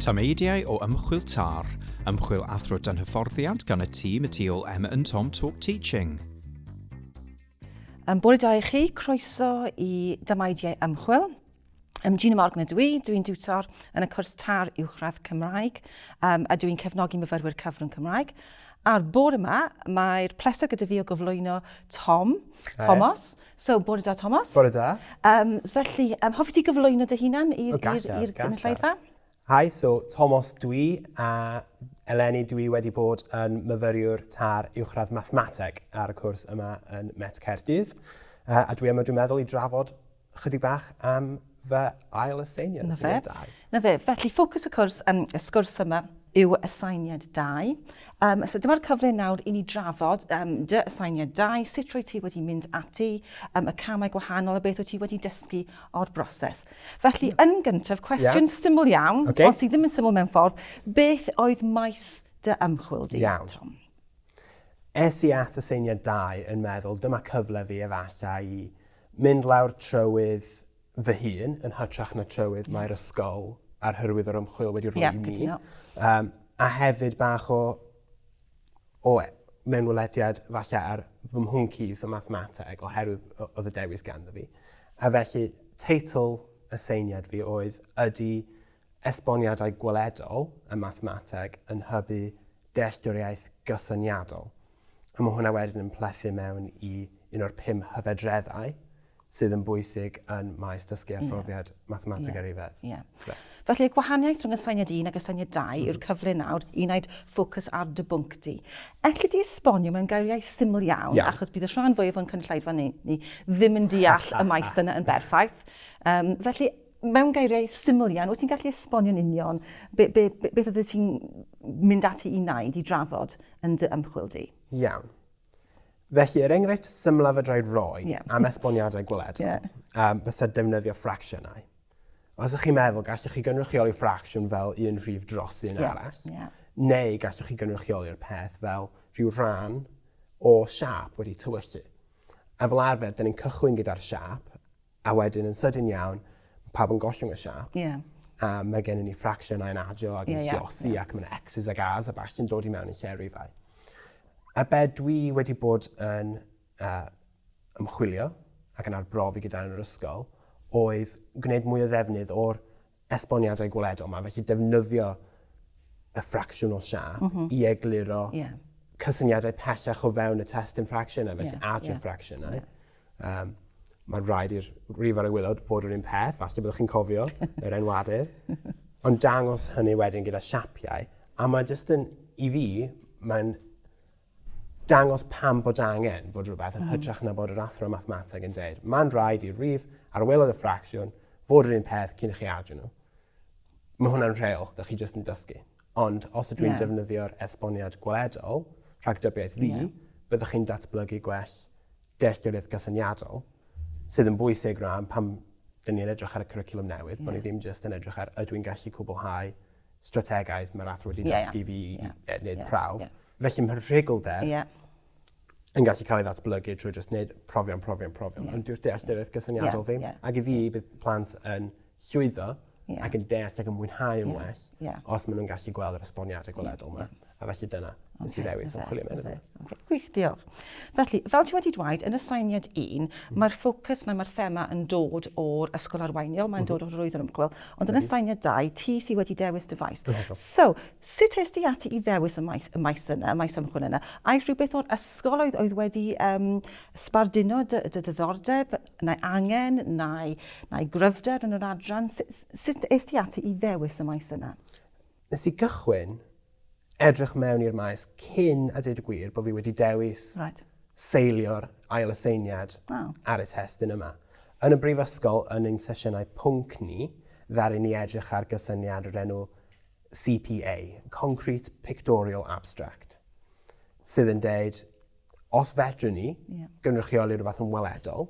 Tameidiau o ymchwil TAR, ymchwil athro dan hyfforddiant gan y tîm y tu ôl Emma and Tom Talk Teaching. Yn bore da i chi, croeso i Damaidiau Ymchwil. Um, Gina Morgan ydw i, dw i'n diwtor yn y cwrs tar uwchradd Cymraeg um, a dw i'n cefnogi myfyrwyr cyfrwng Cymraeg. A'r bore yma, mae'r pleser gyda fi o gyflwyno Tom, Hi. Thomas. So, bore da, Thomas. Bore da. Um, felly, um, hoffi ti gyflwyno dy hunan i'r oh, gynulleidfa? Hi, so Tomos dw i, a eleni dw i wedi bod yn myfyriwr tar uwchradd mathemateg ar y cwrs yma yn Met Caerdydd, a dwi yma dwi'n meddwl i drafod chydig bach am fy ail aseiniad, aseiniad 2. Na fe, felly ffocws y cwrs, um, y sgwrs yma yw aseiniad 2. Um, so dyma'r cyfle nawr i ni drafod um, dy aseiniad 2, sut roi ti wedi mynd ati, um, y camau gwahanol a beth wyt ti wedi dysgu o'r broses. Felly, yn gyntaf, cwestiwn yeah. syml iawn, okay. ond sydd ddim yn syml mewn ffordd, beth oedd maes dy ymchwil di, iawn. Tom? Es i at y seiniau dau yn meddwl, dyma cyfle fi efallai i mynd lawr trywydd fy hun, yn hytrach na trywydd yeah. mae'r ysgol a'r hyrwydd o'r ymchwil wedi rhoi yeah, i mi. Um, a hefyd bach o o mewnwelediad falle ar fy mhwncis o mathemateg oherwydd oedd y dewis ganddo fi. A felly, teitl y seiniad fi oedd Ydy esboniadau gweledol y mathemateg yn hybu dealltwriaeth gysyniadol? A mae hwnna wedyn yn plethu mewn i un o'r pum hyfedreddau sydd yn bwysig yn maes dysgu a phrofiad mathemateg ar ei fedd. Ie. Felly, y gwahaniaeth rhwng aseiniad 1 ac aseiniad 2 yw'r cyfle nawr i wneud ffocws ar dy bwnc di. Elli di esbonio mewn geiriau syml iawn, achos bydd y rhan fwyaf o'n cynulleidfa ni ddim yn deall y maes yna yn berffaith. Um, felly, mewn geiriau syml iawn, wyt ti'n gallu esbonio'n union be, be, be, beth oeddet ti'n mynd ati i wneud, i drafod yn dy ymchwil di? Iawn. Felly, yr enghraifft symlaf y drai roi yeah. am esboniadau gweledol yeah. um, fysa defnyddio ffracsiynau. Os ydych chi'n meddwl, gallwch chi gynrychioli ffracsiwn fel un rhif dros un yeah. arall, yeah. neu gallwch chi gynrychioli'r peth fel rhyw rhan o siap wedi tywyllu. A fel arfer, dyn ni'n cychwyn gyda'r siap, A wedyn yn sydyn iawn, ma' pawb yn gollwng y siâp. Ie. A ma' gennon ni ffracsiynau'n adio ac yn... Ie ie. ...llosi ac ma' 'na X's ac A's a ballu'n dod i mewn i lle rifau. A be' dwi wedi bod yn yy ymchwilio ac yn arbrofi gyda yn yr ysgol oedd gwneud mwy o ddefnydd o'r esboniadau gweledol yma, felly defnyddio y ffracsiwn o siap mm -hmm. i egluro yeah. cysyniadau pellach o fewn y testyn ffracsiynau, felly yeah. adio yeah. ffracsiynau. Yeah. Um, mae'n rhaid i'r rifar y gwylod fod yr un peth, falle byddwch chi'n cofio yr enwadur. Ond dangos hynny wedyn gyda siapiau, a mae jyst yn, i fi, mae'n dangos pam bod angen fod rhywbeth yn mm. hytrach na bod yr athro mathemateg yn dweud, mae'n rhaid i'r rif ar welodd y ffracsiwn fod yr un peth cyn chi adio nhw. Mae hwnna'n rheol, da chi jyst yn dysgu. Ond os ydw i'n yeah. defnyddio'r esboniad gweledol, rhagdybiaeth fi, yeah. byddwch chi'n datblygu gwell dealltwriaeth gysyniadol, sydd yn bwysig rhan pam dyn ni'n edrych ar y cwricwlwm newydd, yeah. bod ni ddim jyst yn edrych ar ydw i'n gallu cwblhau strategaeth mae'r athro wedi dysgu fi i wneud prawf. Felly mae'r rhugl-deb yn gallu cael ei ddatblygu trwy jyst wneud profion, profion, profion. Ond dyw'r dealltwriaeth gysyniadol ddim. Ac i fi, bydd plant yn llwyddo ac yn deall ac yn mwynhau yn well os maen nhw'n gallu gweld yr esboniadau gweledol 'ma. A felly dyna nes i ddewis ymchwilio mewn iddo. Okay. Gwych, diolch. Felly, fel ti wedi dweud, yn y sainiad un, mm. mae'r ffocws neu mae'r thema yn dod o'r ysgol arweiniol, mae'n dod mhm. o'r rwydd yn ymchwil, ond yn y sainiad dau, ti sydd wedi dewis dy faes. So, sut ys di ati i ddewis y maes, y maes yna, y maes ymchwil yna? Ai rhywbeth o'r ysgol oedd, oedd wedi um, sbarduno dy, dy ddiddordeb, neu angen, neu, neu gryfder yn yr adran? Sut, sut ys di ati i ddewis y maes yna? Nes i gychwyn edrych mewn i'r maes cyn a dweud y gwir bod fi wedi dewis right. seilio'r ail aseiniad oh. ar y testyn yma. Yn y brifysgol, yn ein sesiynau pwnc ni, ddaru ni edrych ar gysyniad o'r enw CPA, Concrete Pictorial Abstract, sydd yn deud, os fedrwn ni yeah. gynrychioli rhywbeth yn weledol,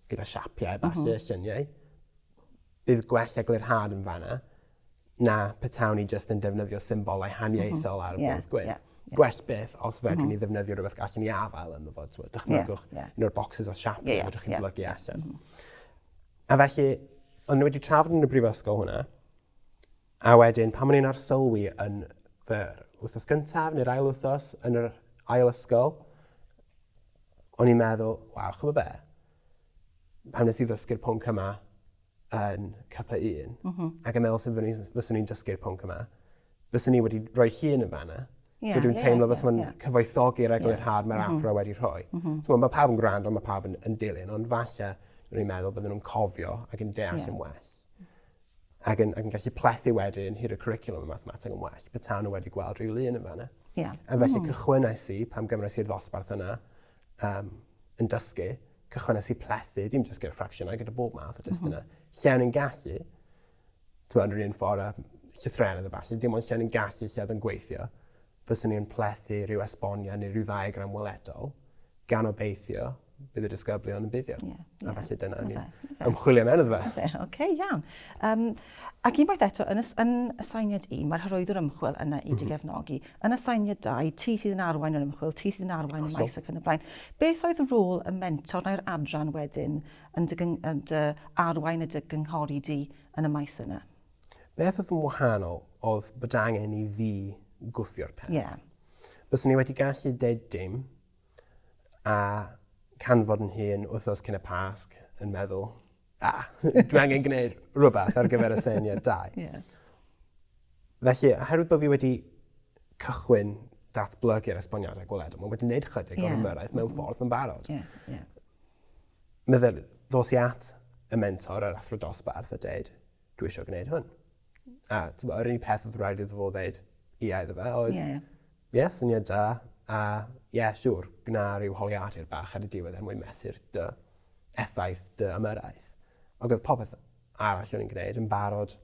gyda siapiau, basys, uh -huh. syniau, bydd gwell eglurhad yn fanna, na petawn i jyst yn defnyddio symbolau haniaethol ar y bwrdd mhm. gwyn. Yeah, yeah. Gwell beth os fedrwn mm. ni ddefnyddio rhywbeth gallwn ni afael yn fod. So, dychmygwch yeah, yeah. un o'r boxes o siap yeah, yeah, chi'n yeah, blygu yeah. allan. Mm -hmm. A felly, ond wedi trafod yn y brifysgol hwnna, a wedyn pan o'n i'n arsylwi yn fy wythnos gyntaf neu'r ail wythnos yn yr ail ysgol, o'n i'n meddwl, waw, chymod be? Pan nes i ddysgu'r pwnc yma, yn capa un, mm -hmm. ac yn meddwl sef fyswn i'n dysgu'r pwnc yma, byswn i wedi rhoi hun yn fanna. Yeah, so dwi'n yeah, teimlo yeah, fes mae'n yeah. cyfoethogi'r eglur yeah. hard mae'r mm -hmm. afro wedi rhoi. Mm -hmm. so, mae pawb yn gwrando, mae pawb yn, yn dilyn, ond falle rwy'n meddwl bydden nhw'n cofio ac yn deall yeah. yn well. Ac yn, ac yn gallu plethu wedyn hyd y curriculum y mathemateg yn well, betawn nhw wedi gweld rhyw lun yn fanna. Yeah. A felly mm. cychwynais i pam gymrys i'r ddosbarth yna, um, yn dysgu, cychwynnes i plethu, dim jyst gyda ffracsiynau, gyda bob math o testunau, mm -hmm. lle o'n i'n gallu, ti'n meddwl, rhywun ffordd a llythrenedd y falle, dim ond lle o'n i'n gallu lle oedd yn gweithio, fyswn i'n plethu rhyw esbonia neu rhyw ddaegram weledol, gan obeithio bydd y disgyblion yn buddio. Yeah, yeah. A felly dyna ni ymchwilio mewn iddo fe. Oce, okay, iawn. Um, ac unwaith eto, yn, yn y sainiad un, mae'r hyrwyddwr ymchwil yna i mm -hmm. gefnogi. yn y sainiadau, ti sydd yn arwain yr ymchwil, ti sydd yn arwain y maes ac yn y blaen. Beth oedd rôl y mentor neu'r adran wedyn yn dy, yn dy arwain y dy gynghori di yn y maes yna? Beth oedd yn wahanol oedd bod angen i fi gwthio'r peth. Yeah. Bys ni wedi gallu deud dim a canfod yn hun wythnos cyn y pasg yn meddwl, A, dwi angen gwneud rhywbeth ar gyfer y syniad dau. yeah. Felly, oherwydd bod fi wedi cychwyn datblygu'r esboniadau gweledol, mae wedi gwneud chydig yeah. o'r ymyrraeth mewn mm-hmm. ffordd yn barod. Yeah, yeah. Meddwl, ddos i at y mentor, yr athro dosbarth, a dweud, dwi isio gwneud hwn. A t'mo' yr unig peth odd raid iddo fo ddeud ia iddo fe oedd... Ie ie. Ie syniad da a ie siŵr gwnâ ryw holiadur bach ar y diwedd er mwyn mesur dy effaith dy ymyrraeth. Ag odd popeth arall o'n i'n gneud yn barod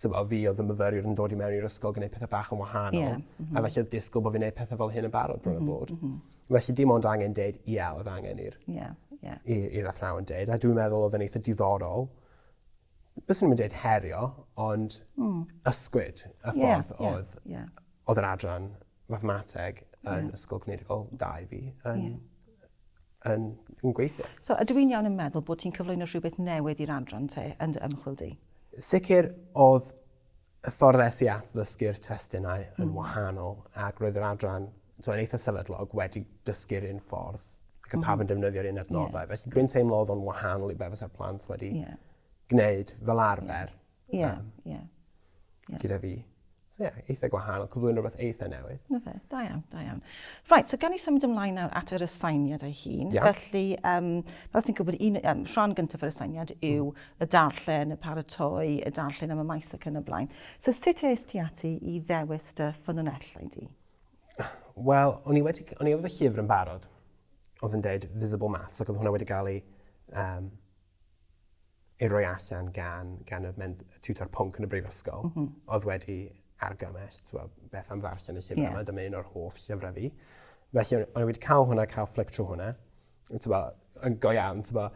t'mo' fi odd y myfyriwr yn dod i mewn i'r ysgol gneud pethe bach yn wahanol. Ie. M-hm. A felly odd disgwl bo' fi'n neud pethe fel hyn yn barod bron a bod. M-hm m-hm. Felly dim ond angen deud ia odd angen i'r... Ie ie. ...i i'r athrawon deud a dwi'n meddwl odd e'n eitha diddorol byswn i'm yn dweud herio, ond ysgwyd y ffordd oedd... Ie, ie, ie. ...oedd yr adran mathemateg yn Ysgol Cynirigol da i fi yn... ie ...yn yn gweithio. So ydw i'n iawn yn meddwl bod ti'n cyflwyno rhywbeth newydd i'r adran te yn dy ymchwil di? Sicr oedd y ffordd es i at ddysgu'r testunau yn mm. wahanol ac roedd yr adran so, yn eitha sefydlog wedi dysgu'r un ffordd ac y mm. pawb yn defnyddio'r un adnoddau. Yeah. Felly dwi'n teimlo oedd o'n wahanol i beth fysa'r plant wedi yeah. gwneud fel arfer. Ie, yeah. um, yeah. yeah. Gyda fi. So, yeah, eitha gwahanol, cyflwyno rhywbeth eitha newydd. Na fe, da iawn, da iawn. Right, so gan i symud ymlaen nawr at yr aseiniad ei hun. Yeah. Felly, um, fel ti'n gwybod, un, um, rhan gyntaf yr aseiniad yw mm. y darllen, y paratoi, y darllen am y maes ac yn y blaen. So sut es ti ati i ddewis dy ffynonellau di? Wel, o'n i wedi, o'n i efo fy llyfr yn barod, oedd yn dweud Visible Maths, ac oedd hwnna wedi cael ei, um, ei roi allan gan, gan y mynd, tutor pwnc yn y brifysgol, mm -hmm. oedd wedi argymell, twa, beth am ddarllen y llyfr yeah. yma, dyma un o'r hoff llyfrau fi. Felly, o'n i wedi cael hwnna, cael fflic trwy hwnna, yn t'bo' yn go iawn t'bo'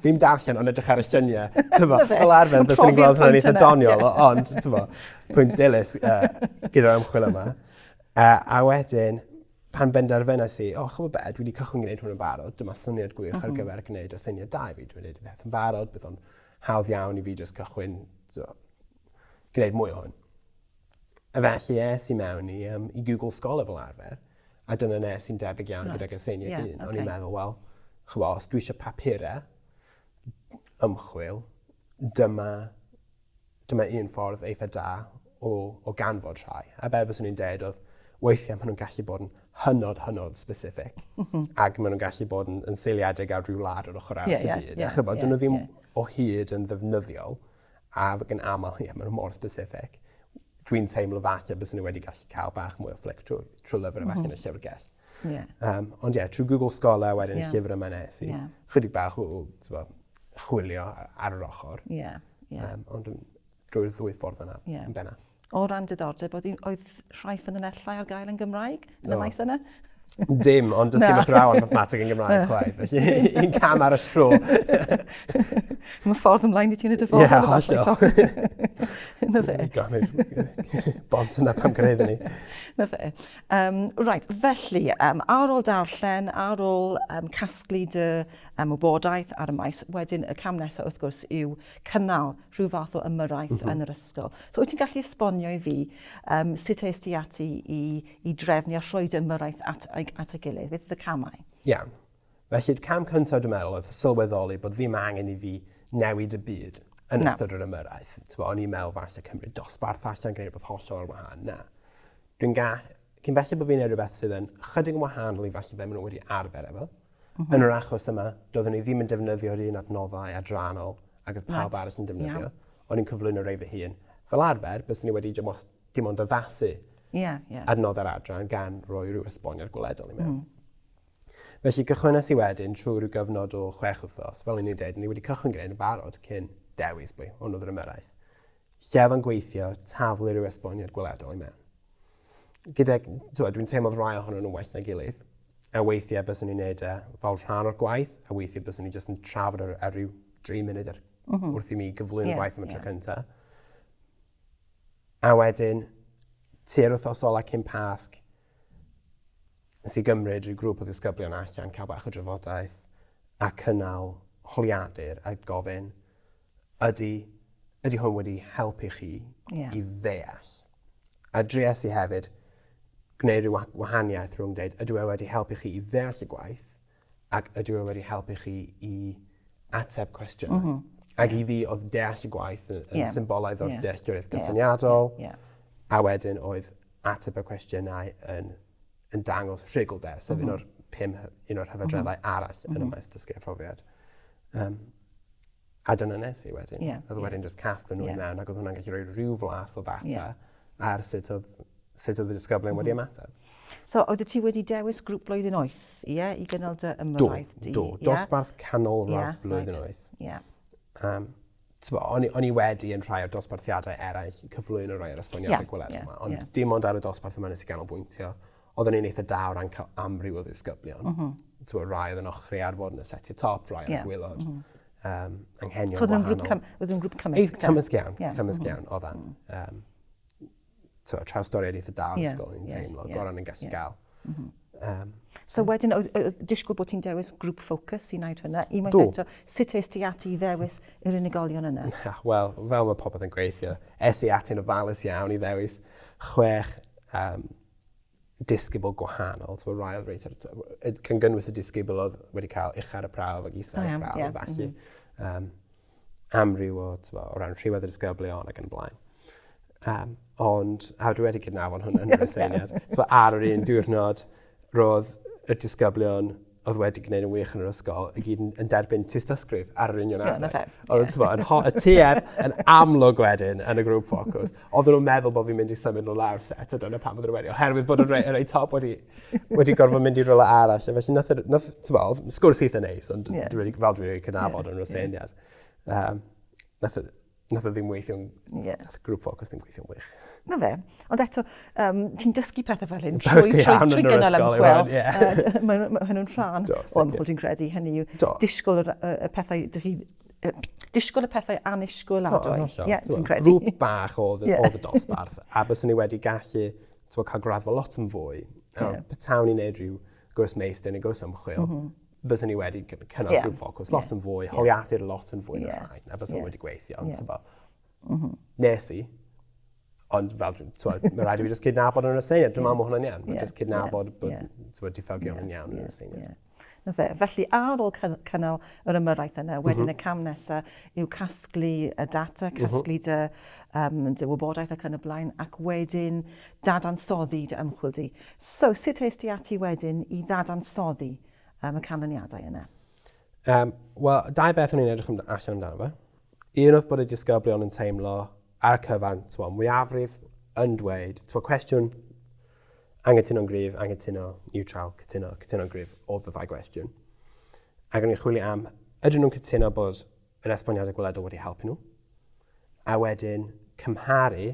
ddim darllen ond edrych ar y llunie t'bo'... 'Na fe. ...fel arfer byswn i'n gweld hwnna'n eitha doniol o- ond t'mo' pwynt dilys yy gyda'r ymchwil yma yy a wedyn pan benderfynas i o ch'mo' be' dwi 'di cychwyn gneud hwn yn barod dyma syniad gwych... M-hm. ...ar gyfer gneud aseiniad da i fi dwi'n neud y peth yn barod bydd o'n hawdd iawn i fi jyst cychwyn t'mo' gneud mwy o hwn. Felly es i mewn i, um, i Google Scholar fel arfer, a dyna nes i'n debyg iawn right. gyda'r gyseiniau yeah, un. Okay. O'n i'n meddwl, wel, chyfo, os dwi eisiau papurau ymchwil, dyma, dyma un ffordd eitha da o, o ganfod rhai. A be bys nhw'n dweud oedd, weithiau maen nhw'n gallu bod yn hynod, hynod specific, mhm. ac maen nhw'n gallu bod yn, yn seiliedig ar rhyw lad o'r ochr arall yeah, y byd. Yeah, yeah, yeah, dyn nhw ddim yeah. o hyd yn ddefnyddiol A ac yn aml, ie, maen nhw mor specific. Dwi'n teimlo falle bys nhw wedi gallu cael bach mwy o fflic trwy, trwy lyfr mm -hmm. yn y llyfrgell. Yeah. Um, ond ie, yeah, trwy Google Scholar wedyn yeah. y llyfr yma nes i. Yeah. Chydig bach o chwilio ar yr ochr. Yeah. Yeah. Um, ond drwy'r ddwy ffordd yna, yeah. yn benna. O ran diddordeb, oedd, oedd rhai ffynonellau ar gael yn Gymraeg yn y maes yna? Dim, ond does dim athrawon mathematig yn Gymraeg chwaith. Felly, un cam ar y tro. Mae ffordd ymlaen i ti'n y dyfodol. Ie, hollol. Na fe. Ganid, bont yna pam gwneud ni. Na fe. Um, right, felly, um, ar ôl darllen, ar ôl um, casglu dy um, wybodaeth ar y maes, wedyn y cam nesaf wrth gwrs yw cynnal rhyw fath o ymyrraeth mm -hmm. yn yr ysgol. So wyt ti'n gallu esbonio i fi um, sut eist ti ati i, i drefnu a rhoi dy ymyrraeth at, at y gilydd? Beth oedd y camau? Iawn. Yeah. Felly'r cam cyntaf dwi'n meddwl oedd sylweddoli bod ddim angen i fi newid y byd yn no. ystod yr ymyrraeth. Tyfo, o'n i'n meddwl falle cymryd dosbarth allan, gwneud rhywbeth hollol o'r wahan. Na. Dwi'n ga... Cyn felly bod fi'n ei rhywbeth sydd yn chydig yn wahanol i falle fe maen nhw wedi arfer efo. Yn yr achos yma, doeddwn i ddim yn defnyddio'r un adnoddau adrannol ag oedd pawb arall yn defnyddio. O'n i'n cyflwyno rei fy hun. Fel arfer, byswn i wedi dim ond addasu adnoddau'r adran gan roi rhyw esboniad gweledol i mewn. Felly, cychwynais i wedyn trwy rhyw gyfnod o chwech wythnos, fel o'n i'n dweud, o'n i wedi cychwyn gyda'n barod cyn dewis pwy hwn oedd yr ymyrraeth. Lle oedd o'n gweithio, taflu rhyw esboniad gweledol i mewn. gyda, tywed, dwi'n teimlo rai ohonyn nhw'n well na gilydd. A weithiau bys nhw'n neud e fel rhan o'r gwaith, a weithiau bys nhw'n just yn trafod ar, ar ryw 3 munud ar, mm -hmm. wrth i mi gyflwyno yeah, gwaith am y yeah. tro cyntaf. A wedyn, tu'r wythnos ola cyn pasg, nes i gymryd rhyw grŵp o ddisgyblion allan, cael bach o drafodaeth, a cynnal holiadur a gofyn, Ydy, ydy hwn wedi helpu chi yeah. i ddeall? A dries i hefyd gwneud rhyw wahaniaeth rhwng dweud, ydw e wedi helpu chi i ddeall y gwaith, ac ydw e wedi helpu chi i ateb cwestiynau. Mm -hmm. Ac i fi, oedd deall y gwaith yn, yn yeah. symbolaidd o'r yeah. dealltwriaeth gysyniadol, yeah. Yeah. a wedyn oedd ateb y cwestiynau yn yn dangos rhugl de, sef mm -hmm. un mhm. o'r pum, un o'r hyfadreddau mm -hmm. arall yn mm -hmm. y mhm. maes dysgu a phrofiad. Um, a dyna nes i wedyn. Yeah. Oedd yeah. wedyn just casg nhw yeah. mewn ac oedd hwnna'n gallu rhoi rhyw flas o ddata yeah. ar sut oedd, sut oedd y disgyblion mm -hmm. wedi mhm. ymateb. So, oedd ti wedi dewis grŵp blwyddyn oeth, ie, yeah, i gynnal dy ymwraeth? Do, do, yeah. dosbarth canol yeah, blwyddyn right. oeth. Yeah. Um, Tbo, o'n, o'n i wedi yn rhai o'r dosbarthiadau eraill cyflwyno rhai o'r esboniadau yeah, gweledol yeah, yma, ond yeah. dim ond ar y dosbarth yma nes i ganolbwyntio. Oedden ni'n eitha da o ran cael amryw o ddisgyblion. Mm -hmm. Tbo, rai oedd yn ochri ar fod yn y setiau top, rai oedd yeah. yn gwylod. Mm -hmm um, anghenion so, wahanol. So oedd yn grŵp cymysg? Oedd yn grŵp cymysg, Cymysg iawn, yeah. cymysg mm -hmm. iawn, oedd e'n. Um, twa, trawstoriad eitha da yn yeah, ysgol, yn yeah, teimlo, yeah, gorau yn gallu yeah. gael. Mm -hmm. um, so wedyn, oedd, oedd disgwyl bod ti'n dewis grŵp ffocws i'n wneud hynna? I mae'n eto, sut eist ti ati i ddewis yr unigolion yna? Wel, fel mae popeth yn gweithio, es i ati'n ofalus iawn i ddewis chwech um, disgybl gwahanol, ti'n rhai oedd reit ar can gynnwys y disgybl oedd wedi cael eich ar y prawf ac isau ar y prawf, yeah. falle. Mm -hmm. um, amryw o, bo, o ran rhywedd y disgyblion ac yn blaen. Um, ond, a dwi wedi cydnafon hwnna yn yr aseiniad, ar yr un diwrnod, roedd y disgyblion oedd wedi gwneud yn wych yn yr ysgol, i gyd yn derbyn tystysgrif ar yr union adeg. Dyna fe. Oedd ti'n yn ho- y TF yn amlwg wedyn yn y grŵp ffocws. Oedd nhw'n meddwl bod fi'n mynd i symud nhw lawr set, a dyna pam oedd wedi. Oherwydd bod y rei, rei top wedi, wedi gorfod mynd i rola arall. Felly, nath, nath, ti'n bo, sgwrs eitha neis, ond yeah. dwi'n fel dwi'n cynafod yn rhywbeth yeah. Um, nath, Nath o ddim weithio'n... Ie. Nath grŵp ffocws ddim gweithio'n wych. Na fe. Ond eto, um, ti'n dysgu pethau fel hyn trwy, trwy, trwy, trwy gynnal ymchwil. Yeah. Mae hynny'n rhan o ymchwil ti'n credu hynny yw disgwyl y, y pethau, dych chi disgwyl y pethau anusgwyl adwy. Oh, yeah, fi'n credu. Grŵp bach oedd, yeah. oedd y dosbarth, a bys ni wedi gallu cael gradd fo lot yn fwy. Yeah. Petawn i'n neud rhyw gwrs meistr neu gwrs ymchwil, mm -hmm byswn ni wedi cynnal yeah. grŵp ffocws lot yeah. yn fwy, yeah. holiadur lot yn fwy yeah. na rhaid, a byswn yeah. wedi gweithio. Ond yeah. mm -hmm. nes i, ond fel, mae rhaid i fi just cydnabod yn y syniad, dwi'n meddwl mae hwnna'n iawn, yeah. just cydnabod yeah. bod yeah. diffygion yn iawn yn y syniad. Yeah. Na fe. Felly, ar ôl cynnal yr ymyrraeth yna, mhm. wedyn mm -hmm. y cam nesaf yw casglu y data, mhm. casglu mm -hmm. dy, um, dy wybodaeth ac yn y blaen, ac wedyn dadansoddi dy ymchwil di. So, sut es di ati wedyn i ddadansoddi um, y canlyniadau yna? Um, Wel, dau beth o'n i'n edrych allan amdano fe. Un oedd bod y disgyblion yn teimlo ar y cyfan, twa, mwyafrif yn dweud, twa, cwestiwn angytuno'n gryf, angytuno neutral, cytuno, cytuno'n gryf, oedd y ddau gwestiwn. Ac o'n i'n chwilio am, ydyn nhw'n cytuno bod yr esboniad y gwledol wedi helpu nhw, a wedyn cymharu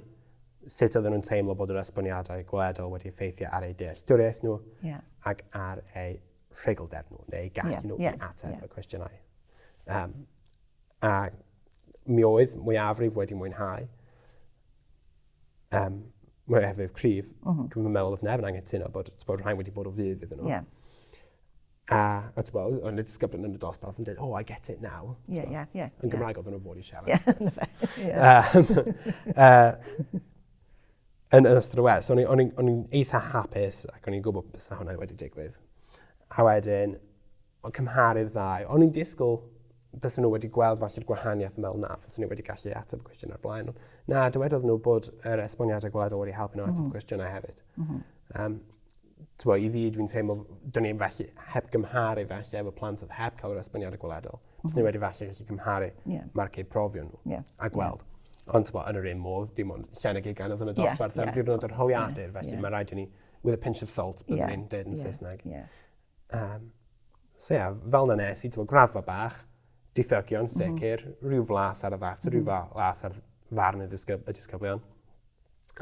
sut oedden nhw'n teimlo bod yr esboniadau gwledol wedi effeithio ar eu dealltwriaeth nhw yeah. ac ar eu rhegelder nhw, neu gallu yeah, nhw yeah, i ateb yeah. y cwestiynau. Um, a mi oedd mwyafrif wedi mwynhau um, mwyafrif cryf, mm -hmm. dwi'n meddwl oedd neb yn angen tuno bod, bod rhain wedi bod o fydd iddyn nhw. Yeah. A, a ti'n bod, o'n disgyblion yn y dosbarth yn dweud, oh, I get it now. Ie, ie, ie. Yn Gymraeg oedd nhw'n fod i siarad. Ie, ie. Yn ystod y wers, o'n i'n eitha hapus ac o'n i'n gwybod beth sy'n hwnna wedi digwydd. A wedyn, o'n cymharu'r ddau, o'n i'n disgwyl bys nhw wedi gweld falle'r gwahaniaeth yn meddwl na, fys nhw wedi gallu ateb y cwestiwn ar blaen. Na, dywedodd nhw bod yr esboniadau gwladol wedi helpu nhw ateb mm. cwestiynau hefyd. Mm -hmm. um, Tibod, i fi, dwi'n teimlo, do'n i felly heb gymharu felly efo plant oedd heb cael yr esboniad y gweledol. Mm -hmm. Os ni wedi felly gallu cymharu yeah. marcau profion nhw yeah. a gweld. Yeah. Ond tibod, yn yr un modd, dim ond llen y gigan oedd yn y dosbarth yeah. ar ddiwrnod yr holiadur, yeah. felly yeah. mae rhaid i ni, with a pinch of salt, byddwn yeah. ni'n dweud yn yeah. Saesneg. Yeah. Um, so ie, yeah, fel na nes i, ti'n gwybod, graddfa bach, Diffygion, mhm. sicr. Mm -hmm. Rhyw flas ar y ddata, mm -hmm. rhyw mhm. flas ar farn y, ddisgyb, y disgyblion.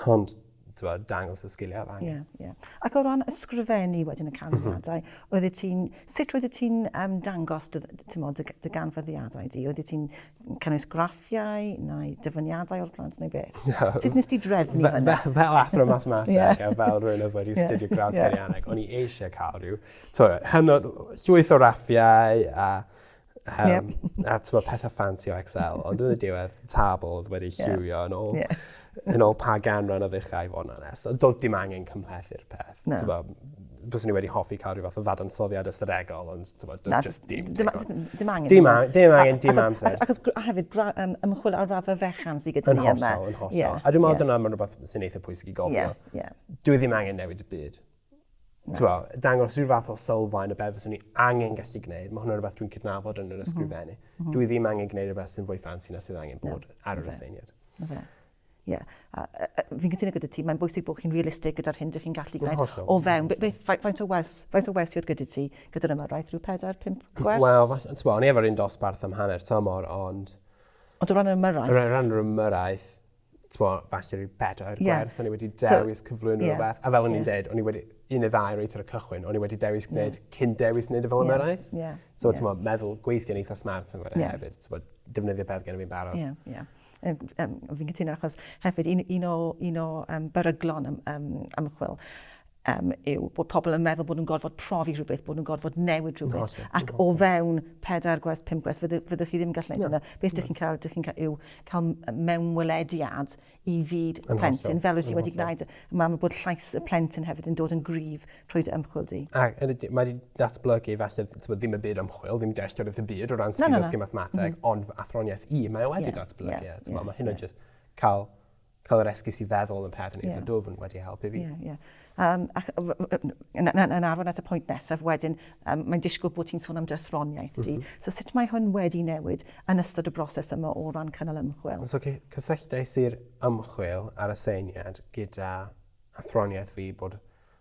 Ond tywa, dangos y sgiliau dda. Yeah, yeah. Ac o ran ysgrifennu wedyn y canfyddiadau, mm -hmm. oeddet ti'n, sut oeddet ti'n um, dangos dy, mod, dy, dy ganfyddiadau di? Oeddet ti'n cynnwys graffiau neu dyfyniadau o'r plant neu beth? Yeah. Sut nes ti drefnu hynny? Fel athro mathemateg yeah. a fel rhywun oedd wedi yeah. studio gradd yeah. peirianneg, o'n i eisiau cael rhyw t'o' hynod llwyth o raffiau a yym... Ie. ...a t'mo' pethe ffansi o Excel ond yn y diwedd tabl odd wedi lliwio yn ôl... Ie. ...yn ôl pa ganran o ddechrau i fo' yn onest. Ond do'dd dim angen cymhlethu'r peth. Na. T'bo' byswn i wedi hoffi ca'l ryw fath o ddadansoddiad ystadegol ond t'mod do'dd jyst dim digon. Na d- dim angen. Dim a- dim angen dim amser. Achos achos gr- a hefyd gra- yym ymchwil ar raddfa fechan sy gyda ni yma. Yn hollol yn hollol. Ie ie. A dwi me'wl dyna ma'n rwbeth sy'n eitha pwysig i gofio. Ie ie. Dyw e ddim angen newid y byd. Tibod, dangos rhyw fath o sylfaen o beth fyswn ni angen gallu gwneud. Mae hwnna'n rhywbeth dwi'n cydnabod yn yr mhm. ysgrifennu. Mm -hmm. Dwi ddim angen gwneud rhywbeth sy'n fwy ffansi na sydd angen bod no. ar yr aseiniad. No. No. Ie. Yeah. Fi'n cytuno gyda ti, mae'n bwysig bod chi'n realistig gyda'r hyn ydych chi'n gallu gwneud o fewn. Beth, faint o wers, faint o wers sydd gyda ti gyda'r yma, rhaid rhyw 4, 5 gwers? Wel, ti'n o'n i efo'r un dosbarth am hanner tymor, ond... Ond o ran yr ymyrraeth? O ran yr ymyrraeth, t'mo, falle rhyw bedair yeah. gwers, o'n i wedi dewis so, cyflwyno yeah. rhywbeth. A fel o'n i'n yeah. deud, o'n i wedi, un neu ddau reit ar y cychwyn, o'n i wedi dewis gwneud, yeah. cyn dewis gwneud y fel yeah. ymarau. Yeah. So, yeah. t'mo, meddwl gweithio'n eitha smart yn fawr yeah. hefyd. T'mo, defnyddio beth gen i fi'n barod. Ie, yeah, ie. Yeah. Um, fi'n cytuno achos hefyd un, un o, un o um, beryglon um, ymchwil um, yw bod pobl yn meddwl bod nhw'n gorfod profi rhywbeth, bod nhw'n gorfod newid rhywbeth, ac o fewn pedair gwers, pum gwers, fyddwch chi ddim yn gallu gwneud yna. Beth ydych chi'n cael, ydych chi'n cael yw cael mewnwelediad i fyd y plentyn, fel wyt ti wedi gwneud. Mae mae bod llais y plentyn hefyd yn dod yn gryf trwy dy ymchwil di. A, mae wedi datblygu falle ddim y byd ymchwil, ddim dealltwriaeth y byd o ran sgil no, no, no. mathemateg, mm -hmm. ond athroniaeth i, mae wedi yeah, datblygu. Yeah, yeah, mae hynna yeah. just cael Cael yr esgus i feddwl yn pethau neu dwf yn wedi helpu fi. Ie, ie. Um, ac, yn arwain at y pwynt nesaf wedyn, um, mae'n disgwyl bod ti'n sôn am dy athroniaeth di. Mm -hmm. So sut mae hwn wedi newid yn ystod y broses yma o ran cynnal ymchwil? So cysylltais i'r ymchwil ar y seiniad gyda athroniaeth fi bod,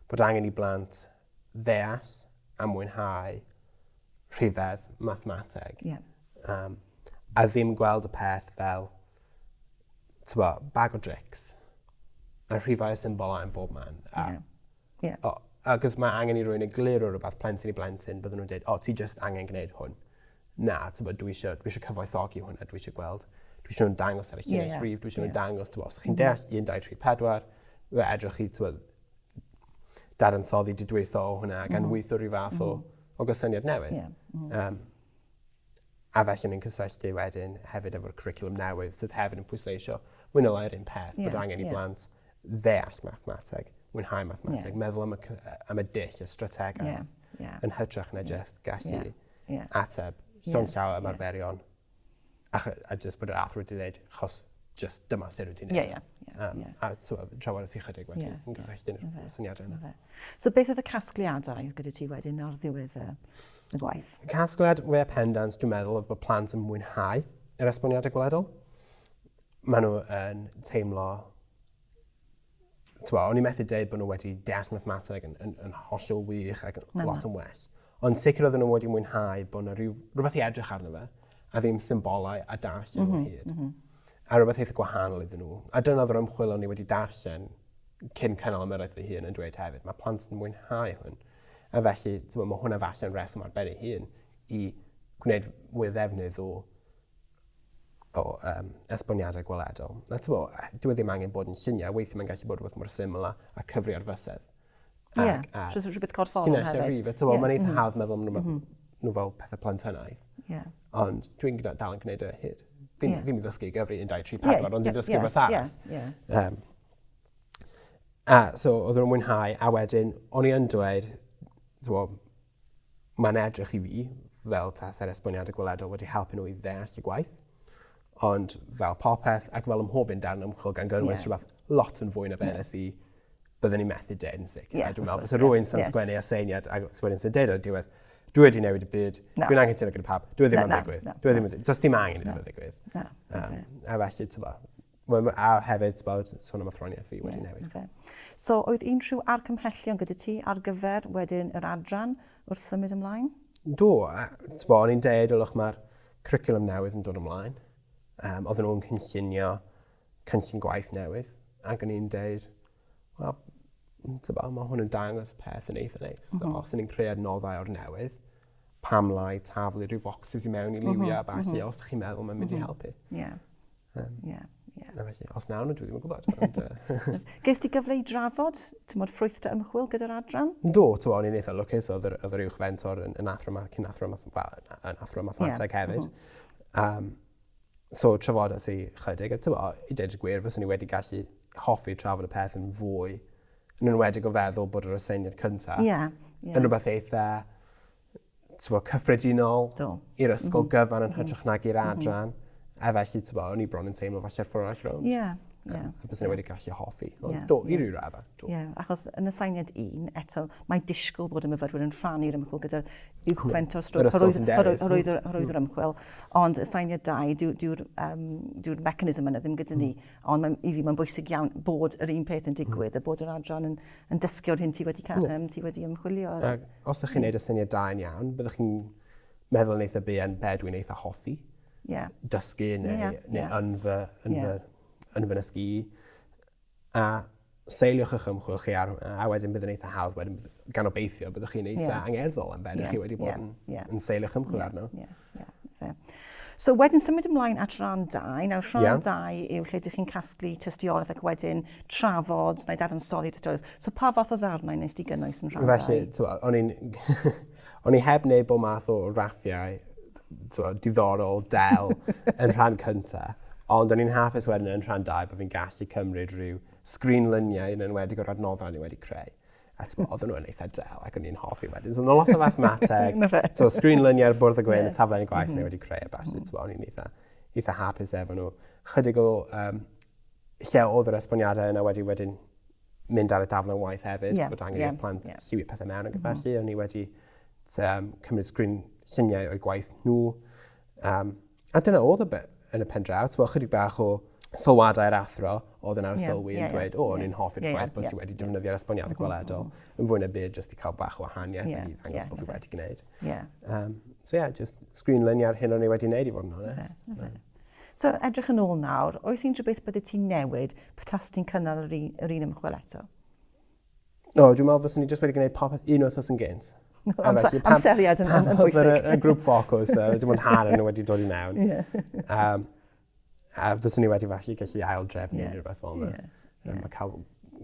bod angen i blant ddeall a mwynhau rhifedd mathemateg. Ie. Um, a ddim gweld y peth fel, tybo, bag o drics. A rhifau y symbol a'n bob man. A, yeah. Yeah. O, agos mae angen i rwy'n y glir o rhywbeth plentyn i blentyn, byddwn nhw'n dweud, o, ti just angen gwneud hwn. Na, tybo, dwi eisiau, dwi eisiau cyfoethogi hwn a dwi eisiau gweld, dwi eisiau nhw'n dangos ar y lluniau yeah, yeah. rhif, dwi eisiau yeah. nhw'n dangos, tybo, os chi'n yeah. deall 1, 2, 3, 4, fe edrych chi, tybo, dadansoddi didwytho o hwnna ac anweithio mhm. rhyw fath o, mhm. o gysyniad newydd. Yeah. Mm. Um, a felly ni'n cysylltu wedyn hefyd efo'r curriculum newydd sydd hefyd yn pwysleisio mwyn o lai'r un peth yeah, bod angen i yeah. blant ddeall mathemateg, mwynhau mathemateg, yeah. meddwl am y, am y dill, y strategaeth, yeah, yeah. yn hytrach na yeah. just gallu yeah, yeah. ateb llon yeah, llaw ymarferion yeah. A, a just bod yr athro wedi dweud, chos just dyma sut wyt ti'n neud. Ie, ie. ie, Um, ie. A so, trafod ys i chydig wedyn, Ie, yn gysylltu'n ie, y syniadau yna. Fe. So beth oedd y casgliadau gyda ti wedyn ar ddiwedd y, y gwaith? Casgliad we pendant, dwi'n meddwl, oedd bod plant yn mwynhau yr esboniadau gwledol. Maen nhw yn teimlo Twa, o'n i methu dweud bod nhw wedi deall mathemateg yn, yn, yn hollol wych ac yn lot yn well. Ond sicr oedden nhw wedi mwynhau bod yna rhyw, rhywbeth i edrych arno fe, a ddim symbolau a darllen mm -hmm, hyd. Mm -hmm. A rhywbeth eitha gwahanol iddyn nhw. A dyna oedd yr ymchwil o'n i wedi darllen cyn cynnal ymyrraeth fy hun yn dweud hefyd. Mae plant yn mwynhau hwn. A felly, mae hwnna falle yn reswm ar ben ei hun i gwneud mwy o ddefnydd o o um, esboniadau gweledol. Na, ti'n bod, dwi e ddim angen bod yn lluniau, weithio mae'n gallu bod rhywbeth mor syml a, a cyfri ar fysedd. Ie, yeah, so rhywbeth corfforol hefyd. Llinell rhywbeth, ti'n bod, mae'n eitha mm-hmm. hawdd meddwl nhw, mm-hmm. nhw fel pethau plentynaidd. Yeah. Ond dwi'n dal yn gwneud y e hyd. Ddim, yeah. ddim i ddysgu gyfri 1, 2, 3, 4, ond dwi'n ddysgu yeah, beth arall. Yeah, yeah. Um, a, so, oedd nhw'n mwynhau, a wedyn, o'n i yn dweud, ti'n bod, Mae'n edrych i fi fel tasa'r esboniadau gweledol wedi helpu nhw i ddeall y gwaith. Ond fel popeth, ac fel ymhob un darn ymchwil gan gyrwys yeah. rhywbeth lot yn fwy na fe nes i byddwn ni'n methu deud yn sicr. Yeah, Dwi'n meddwl, bys rwy'n sy'n yeah. sgwennu aseiniad a sgwennu sy'n deud o'r diwedd, dwi wedi newid y byd, no. dwi'n angen teimlo gyda pawb, dwi e ddim yn digwydd. Dwi e ddim yn digwydd. Does dim angen i ddim yn digwydd. A felly, ti'n Wel ma' a hefyd t'bod sôn am athroniaeth fi wedi newid. Ie, 'na fe. So oedd unrhyw argymhellion gyda ti ar gyfer wedyn yr adran wrth symud ymlaen? Do, a t'bo' o'n i'n deud ylwch ma'r cwricwlwm newydd yn dod ymlaen. Yym odden nhw'n cynllunio cynllun gwaith newydd ac o'n i'n deud wel m- t'bo' ma' hwn yn dangos peth yn eitha neis so os 'yn ni'n creu adnoddau o'r newydd pam lai taflu rhyw focsys i mewn i liwia a ballu os chi'n meddwl ma'n mynd i helpu. Ie. Um, yeah, yeah. A felly, os nawn nhw, dwi ddim yn gwybod. Ond, uh... Ges ti gyfle i drafod, ti'n modd ffrwythdau ymchwil gyda'r adran? Do, ti'n modd, ni'n eitha lwcus, oedd yr, oedd yr uwch fentor yn, yn athro, cyn athro, well, yn athro mathemateg yeah. hefyd. Mm -hmm. um, so, trafod at i chydig, a ti'n modd, i dweud y gwir, fyswn ni wedi gallu hoffi trafod y peth yn fwy, yn enwedig o feddwl bod yr aseiniad cyntaf. Ie. Yeah, yeah. Yn rhywbeth eitha tbo, cyffredinol Do. i'r ysgol mm-hmm. gyfan yn mm-hmm. hytrach nag i'r mm-hmm. adran. A felly, ti'n bod, o'n i bron yn teimlo falle ffordd arall rownd. Ie. Yeah. Yeah. A bys nhw wedi gallu hoffi. Ond yeah. do, i yeah. ryw raddau. Ie, yeah. achos yn y sainiad un, eto, mae disgwyl bod y myfyrwyr yn rhannu'r ymchwil gyda'r uwchfent o'r strwyth, horwydd yr hmm. ymchwil. Ond y sainiad dau, dyw'r um, dyw mechanism yna ddim gyda ni. Hmm. Ond mae, i fi, mae'n bwysig iawn bod yr un peth yn hmm. digwydd, a bod yr adran yn, yn dysgu o'r hyn ti wedi, um, ti wedi ymchwilio. Os ydych chi'n gwneud y syniad da yn iawn, byddwch chi'n meddwl yn eitha bu yn be dwi'n eitha hoffi. Yeah. Dysgu neu, yeah. neu yeah. yn fy, yn yeah. fy, yn fy nysgu. A seiliwch eich ymchwil chi ar hwnna, a wedyn bydd yn eitha hawdd, wedyn gan obeithio byddwch chi'n eitha yeah. angerddol am beth yeah. chi wedi bod yeah. yn, yeah. yn seiliwch ymchwil yeah. arno. Yeah. So wedyn symud ymlaen at rhan 2. Nawr rhan yeah. 2 yw lle ydych chi'n casglu tystiolaeth ac wedyn trafod neu dadansoddi tystiolaeth. So pa fath o ddarnau nes di gynnwys yn rhan 2? Felly, o'n i'n... O'n i heb wneud bod math o raffiau diddorol, del, yn rhan cyntaf. Ond o'n i'n hapus wedyn yn rhan 2 bod fi'n gallu cymryd rhyw sgrinlyniau yn enwedig o'r adnoddau ni wedi creu. A t'mo' odden nhw yn eitha del ac o'n i'n hoffi wedyn so o' 'na lot o fathemateg. 'Na fe. T'mo' sgrin luniau ar bwrdd y gwyn... Ie. ...y taflen y gwaith o'n i wedi creu a ballu t'mo' o'n i'n eitha eitha hapus efo n'w. Chydig o yym lle odd yr esboniadau yna wedi wedyn mynd ar y daflen waith hefyd... Ie ie. ...bod angen i'r plant... Ie. ...lliwio pethe mewn ac yn felly o'n i wedi t- yym cymryd sgrin lluniau o'u gwaith nhw yym A dyna oedd y be yn y pen draw. Ti'n bod, chydig bach o sylwadau'r athro oedd yn arsylwi yn dweud, o, o'n i'n hoffi'r ffaith bod ti wedi defnyddio'r esboniadau gweledol yn fwy na byd jyst i cael bach o wahaniaeth yeah, i ddangos yeah, bod fi wedi gwneud. Yeah. Um, so yeah, just screen luniau'r hyn o'n i wedi gwneud i fod yn honest. Okay, okay. So edrych yn ôl nawr, oes unrhyw beth bydde ti'n newid petas ti'n cynnal yr un, yr un ymchwil eto? No, dwi'n meddwl fyswn ni jyst wedi gwneud popeth un wythnos yn gynt. Amseriad yn, yn, yn bwysig. Pan y grŵp ffocws, uh, dim ond hanner nhw wedi dod i mewn. Yeah. um, a fyswn ni wedi falle gallu ail drefnu yeah. rhywbeth fel yna. Yeah. Yeah. Mae cael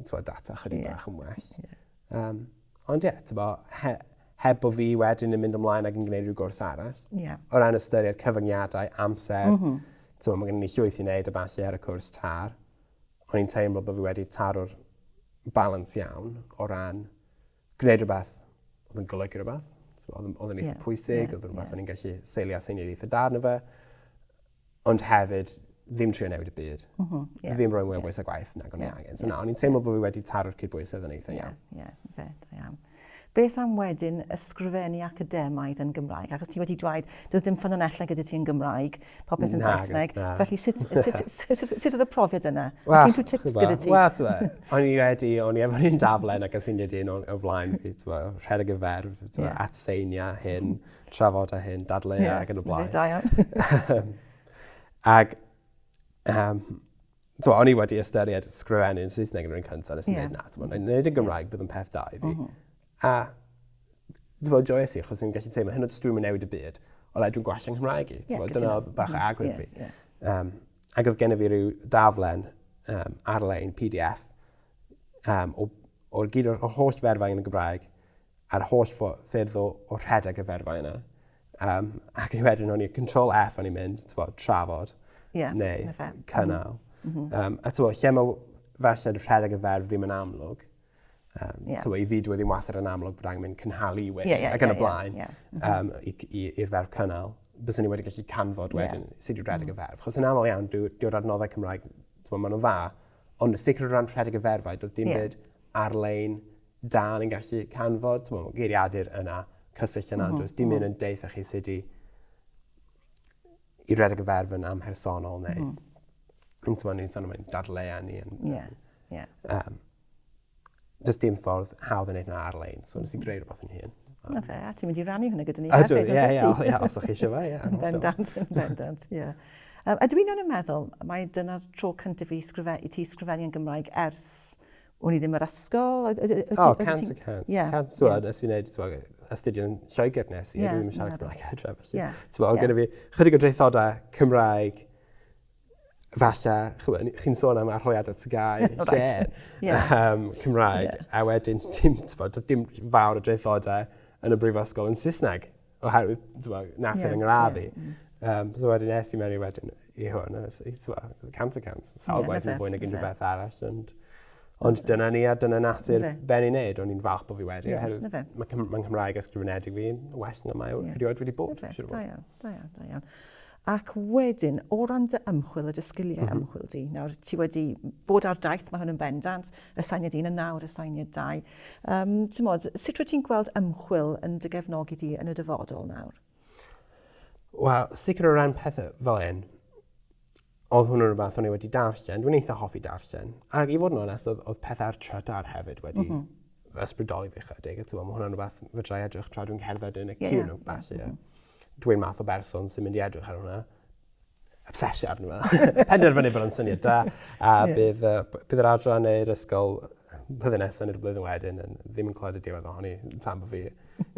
twa, data chydig yeah. bach yn well. Yeah. Um, ond ie, yeah, ti'n bo, he, heb bod fi wedyn yn mynd ymlaen ac yn gwneud rhyw gwrs arall. Yeah. O ran ystyried cyfyngiadau, amser, mm -hmm. ti'n bo, mae gen i llwyth i wneud y falle ar y cwrs tar. o'n i'n teimlo bod fi wedi taro'r balans iawn o ran gwneud rhywbeth oedd yn golygu rhywbeth. Oedd yn eitha yeah, pwysig, yeah, oedd yn rhywbeth yeah. o'n i'n gallu seilio a seinio'r eitha darn o fe. Ond hefyd, ddim trio newid y byd. Mm -hmm, yeah, ddim rhoi mwy o bwys a gwaith nag o'n yeah, angen. So yeah, na, o'n i'n teimlo yeah. bod fi wedi taro'r cydbwysedd yn eitha yeah, iawn. Yeah, yeah, fe, da iawn. Beth am wedyn ysgrifennu academaidd yn Gymraeg? Achos ti wedi dweud, doedd dim ffynonellau gyda ti yn Gymraeg, popeth yn Saesneg. Felly, sut, sut, sut, sut oedd y profiad yna? Well, Ac unrhyw tips gyda ti? Wel, ti'n meddwl, o'n i wedi, o'n i efo'r un daflen ac sy'n nid un o flaen fi, ti'n meddwl, rhedeg y ferf, ti'n meddwl, atseini a hyn, trafod a hyn, dadleu yeah, ac yn y blaen. Da iawn. Ac, um, So, o'n i wedi ystyried sgrifennu yn Saesneg yn rhywun cyntaf, nes i yeah. na, ti'n yn gwneud yn Gymraeg, bydd yn peth da i fi. Mm A, ti'n bod, joes i, chos i'n gallu teimlo, hyn o dys dwi'n mynd newid y byd, ond dwi'n gwell yng Nghymraeg i, ti'n bod, dyna bach o agwedd fi. Um, ac oedd gen i fi rhyw daflen um, ar-lein, PDF, um, o'r gyd o'r holl ferfau yn y Gymraeg, a'r holl ffyrdd o, o rhedeg y ferfau yna. Um, ac ni wedyn o'n i control F o'n i'n mynd, ti'n bod, trafod, yeah, neu cynnal. Mm -hmm. um, a ti'n bod, lle mae felly rhedeg y ferf ddim yn amlwg, um, yeah. ti'n bod, i fi dwi e ddim wastad yn amlwg bod angen mynd cynhalu i wedi, yeah, yeah, ac yn yeah, y blaen, yeah, yeah. um, i'r ferf cynnal, bys ni wedi gallu canfod wedyn yeah. sut i rhedeg mm. y ferf. Chos yn aml iawn, dyw'r adnoddau Cymraeg, ti'n bod, maen nhw'n dda, ond sicr o ran rhedeg y ferfau, doedd dim yeah. byd ar-lein da yn gallu canfod, ti'n meddwl, geiriadur yna, cysyll yna, mm -hmm. does dim un yn deitha chi sut i, i redeg y ferf yn amhersonol neu... Mm -hmm. Yn ti'n ni'n sôn am dadleu ni. Ie, ie. Um, does dim ffordd hawdd yn ei wneud ar-lein, so nes i greu rhywbeth yn hun. Na fe, a ti'n mynd i rannu hynny gyda ni hefyd, yndwyt ti? Ie, ie, ie, os o'ch chi eisiau fe, ie. Yn bendant, yn bendant, ie. Um, a dwi'n yn meddwl, mae dyna'r tro cyntaf i, sgrife, i ti sgrifennu yn Gymraeg ers O'n i ddim yr ysgol. O, cant y cant. Cant, ti'n nes i wneud, ti'n astudio yn Lloegr nes i, yeah, ddim yn siarad Cymraeg adre, felly. Yeah. Ti'n yeah. gyda fi chydig o dreithodau Cymraeg, falle, chi'n sôn am arhoiad at y gau, lle, yeah. um, Cymraeg, yeah. a wedyn, dim, ti'n dim fawr o dreithodau yn y brifysgol yn Saesneg. Oherwydd, ti'n natur yeah, yng ngradd i. Yeah. Um, so wedyn es i mewn i wedyn i hwn, a ti'n cant y cant, sawl gwaith yn fwy nag unrhyw beth arall. And, Ond dyna ni a dyna natur ben i wneud, o'n i'n falch bod fi wedi, yeah, oherwydd mae Cymraeg ysgrifenedig fi'n well na mae yeah. erioed wedi bod. Da iawn, da iawn, da iawn. Ac wedyn, o ran dy ymchwil a dy sgiliau ymchwil di, nawr ti wedi bod ar daith, mae hwn yn bendant, y sainiad un yn nawr, y sainiad dau. Um, mod, sut rwyt ti'n gweld ymchwil yn dy gefnogi di yn y dyfodol nawr? Wel, sicr o ran pethau fel un, oedd hwn yn rhywbeth o'n i wedi darllen, dwi'n eitha hoffi darllen. Ac i fod yn onest, oedd, oedd pethau ar trydar hefyd wedi mm -hmm. ysbrydoli fi chydig. Mae hwnna'n rhywbeth fydrai edrych tra dwi'n cerdded yn y yeah, cyn yeah. o bas, ie. Yeah. Mm -hmm. Dw i'n math o berson sy'n mynd i edrych ar hwnna. Obsesio arno fe. Penderfynu bod o'n syniad da. A yeah. bydd, uh, bydd yr adran neu'r ysgol blwyddyn nesaf neu'r blwyddyn wedyn yn ddim yn clywed y diwedd ohoni tan bod fi.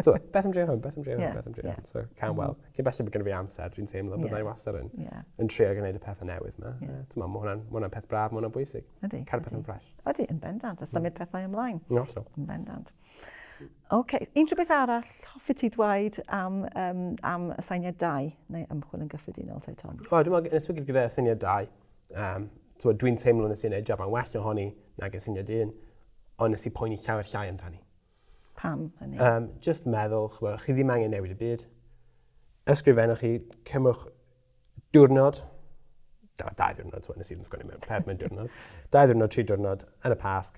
So, beth am drio hwn, beth am drio hwn, yeah. beth am drio hwn. Yeah. So, cael mm. weld. Cyn belled bod gen fi amser, dwi'n teimlo bod yeah. wastad yn, yeah. yn trio gwneud y pethau newydd yma. Yeah. Tyma, mae hwnna'n hwnna peth braf, mae hwnna'n bwysig. Ydy. Cael pethau'n ffres. Ydy, yn bendant. A symud mm. pethau ymlaen. Yn hollol. Yn bendant. Ok, unrhyw beth arall hoffi ti ddweud am, um, am y syniad dau neu ymchwil yn gyffredinol, te Tom? O, dwi'n meddwl, yn esbygyd gyda syniad dau, um, dwi'n teimlo nes i'n ei jaban well ohoni nag y syniad un, ond nes i poeni llawer llai amdani. Pam hynny? Um, just meddwl, chwa, chi ddim angen newid y byd. Ysgrifennwch chi, cymwch diwrnod, da, dau ddiwrnod, so nes i ddim sgwennu mewn peth mewn diwrnod, dau ddiwrnod, tri diwrnod, yn y pasg,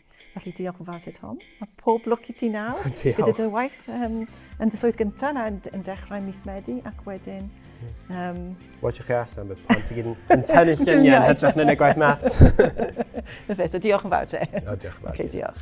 Felly diolch yn fawr ti Tom. A pob lwc i ti nawr. Diolch. Gyda dy waith um, yn dy swydd gyntaf na yn, yn dechrau mis Medi ac wedyn... Um... Watch chi allan, bydd plant i gyd yn tynnu syniau yn hytrach na'n ei gwaith mat. Na fe, so diolch yn fawr te. O, diolch yn fawr. Okay, diolch.